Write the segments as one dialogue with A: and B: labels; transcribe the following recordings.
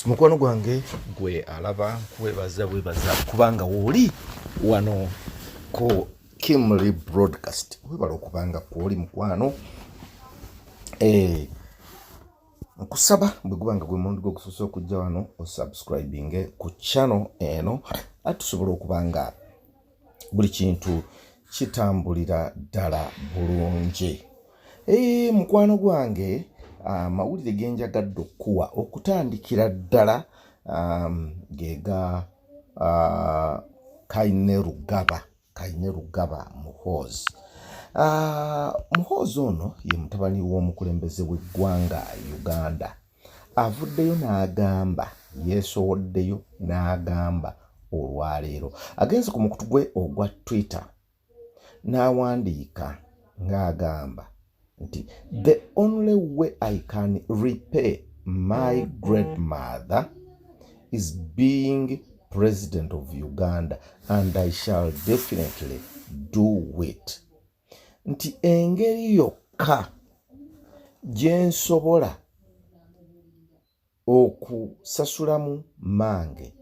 A: mukwano gwange gwe alaba nkwebaza bwebaza kubanga wooli wano ku kimly broadcast webala okubanga kwoli mukwano eh, nkusaba bwe guba nga gwe mundi gwe gusoose okujja wano osubscribinge ku channel eno atusobola okuba nga buli kintu kitambulira ddala bulungi ee eh, mukwano gwange amawulire ah, genjagadde okukuwa okutandikira ddala gega ah, kaine rugaba kaine rugaba muhoozi ah, muhoozi ono ye mutabani w'omukulembeze w'eggwanga uganda avuddeyo n'agamba yeesowoddeyo n'agamba olwaleero agenze ku mukutu gwe ogwa twitter n'awandiika ng'agamba nti the only way i can repay my great mother is being president of uganda and i shall definitely do it nti engeri yokka gye nsobola okusasulamu mange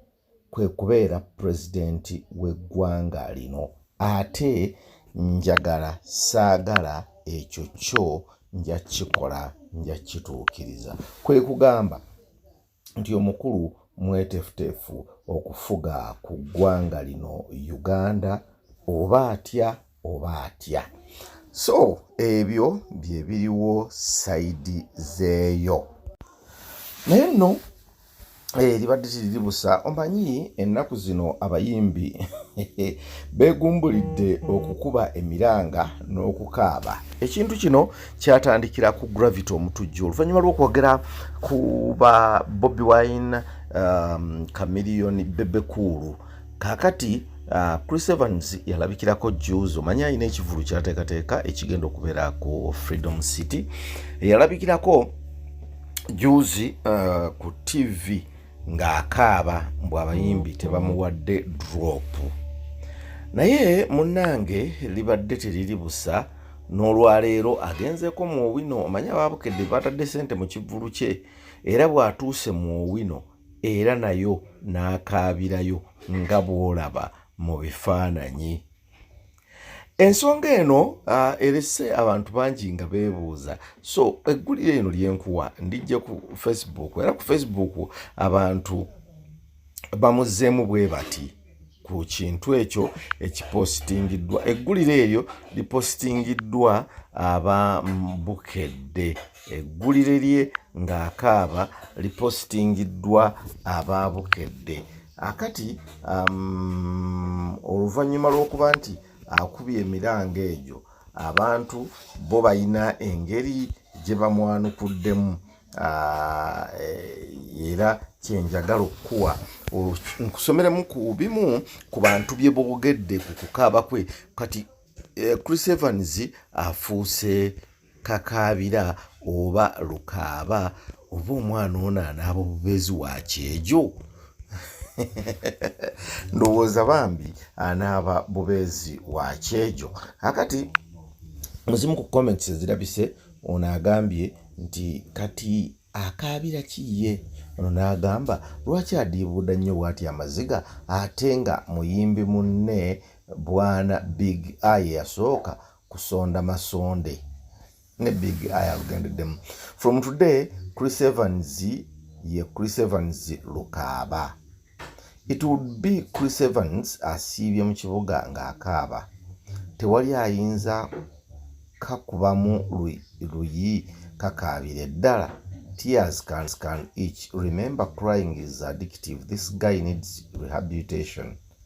A: kwe kubeera pulezidenti w'eggwanga lino ate njagala saagala ekyo kyo nja kukikola nja kukituukiriza kwe kugamba nti omukulu mwetefutefu okufuga ku ggwanga lino Uganda oba atya oba atya. So ebyo bye biriwo sayidi zeeyo. Naye nno eribadde eh, tiriribusa omanyi ennaku zino abayimbi begumbulidde okukuba emiranga n'okukaaba ekintu kino kyatandikira ku gravity omutujju oluvannyuma lw'okwogera ku ba bobi wine um, camillion bebekuulu kakati uh, chris evans yalabikirako juzi omanye alina ekivulu kyateekateeka ekigenda okubeera ku freedom city yalabikirako juzi uh, ku tv ng'akaaba mbu abayimbi tebamuwadde dropu naye munnange libadde teriri busa n'olwaleero agenzeeko mu owino omanyi abaabukedde batadde sente mu kivvulu kye era bw'atuuse mu owino era nayo n'akaabirayo nga bw'olaba mu bifaananyi ensonga eno uh, erese abantu bangi nga beebuuza so eggulire eno lyenkuwa ndijja ku facebook era ku facebook abantu bamuzeemu bwe bati ku kintu ekyo ekipositingiddwa eggulire eryo lipositingiddwa aba bukedde eggulire lye ng'akaaba lipositingiddwa aba bukedde akati um, oluvannyuma lw'okuba nti akubye emiranga egyo abantu bo balina engeri gye bamwanukuddemu uh, eh, era kyenjagala okukuwa nkusomeremu ku bimu ku bantu bye boogedde ku kukaaba kwe kati eh, chris evans afuuse kakaabira oba lukaaba oba omwana ono anaaba obubeezi wa kyejo ndowooza bambi anaaba bubeezi wa kyejo akati muzimu ku comments ezirabise ono agambye nti kati akaabira kiye ono n'agamba lwaki adiibuuda nnyo bwati amaziga ate nga muyimbi munne bwana big eye yasooka kusonda masonde ne big eye alugendeddemu from today chris evans ye chris evans lukaaba it would be chris evans asiibye mu kibuga ng'akaaba tewali ayinza kakubamu luyi kakaabire ddala tears can scan each remember crying is addictive this guy needs rehabilitation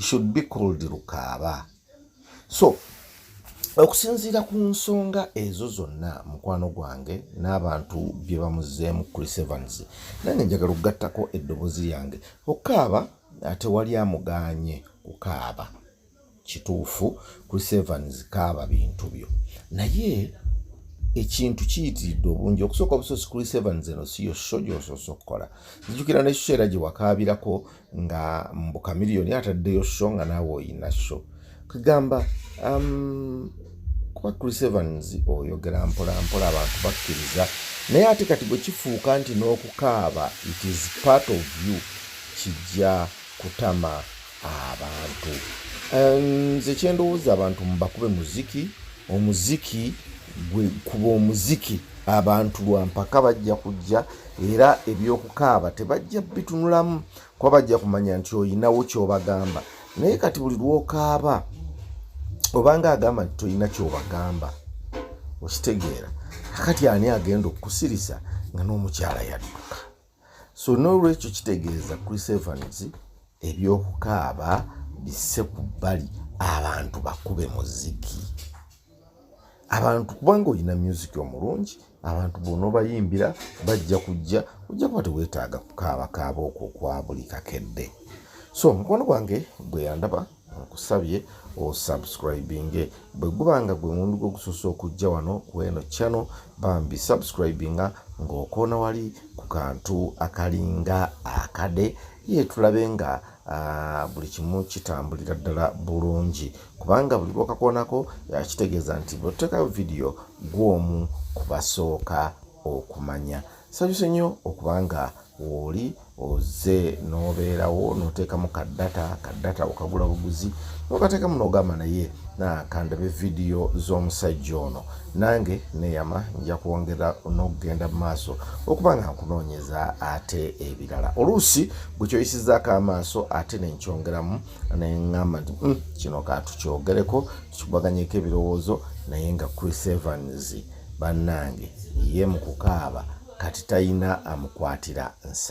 A: should be called lukaaba so okusinziira ku nsonga ezo zonna mukwano gwange n'abantu bye bamuzeemu chris evans nange njagala okugattako eddobozi lyange okukaaba tewali amugaanye kukaaba kituufu chris evans kaaba bintu byo naye ekintu kiyitiridde obungi okusooka obusosi kuli seven zeno siyo sho gyosoose okukola nzijukira nekiseera gye wakaabirako nga mbu kamiliyoni ataddeyo sho nga naawe oyina sho kugamba um, kuba chris evans oyogera mpolampola abantu bakkiriza naye ate kati bwe kifuuka nti n'okukaaba it is part of you kijja kutama abantu nze kyendowooza abantu mubakube muziki omuziki gwe kuba omuziki abantu lwampaka bajja kujja era ebyokukaaba tebajja bitunulamu kuba bajja kumanya nti oyinawo kyobagamba naye kati buli lwokaaba obanga agamba nti tolina kyobagamba okitegeera akati ani agenda okukusirisa nga n'omukyala yadduka so nolwekyo kitegeeza chris evans ebyokukaaba bisse ku bbali abantu bakube muziki abantu kubanga olina music omulungi abantu bona obayimbira bajja kujja ojja kuba teweetaaga kukaabakaaba okwo kwa buli kakedde so mukwano gwange gwe yandaba nkusabye osubscribinge bwe guba nga gwe mundu gwe gusoose okujja wano ku eno channel bambi subscribinga ng'okoona wali ku kantu akalinga akade ye tulabe nga ah, buli kimu kitambulira ddala bulungi kubanga buli lwokakoonako yakitegeeza nti bwetutekayo vidiyo gwomu kubasooka okumanya sabise nnyo okubanga wooli oze nobeerawo noteekamu ka data ka data okagula buguzi nokateekamu nogamba naye nakandabe vidiyo z'omusajja ono nange neyama nja kwongera nokugenda mu maaso okuba nga nkunoonyeza ate ebirala oluusi gwe kyoyisizaako amaaso ate nenkyongeramu naye ŋŋamba nti hmm, kino katukyogereko tukibaganyeko ebirowoozo naye nga chris evans bannange ye mu kukaaba kati talina amukwatira nsa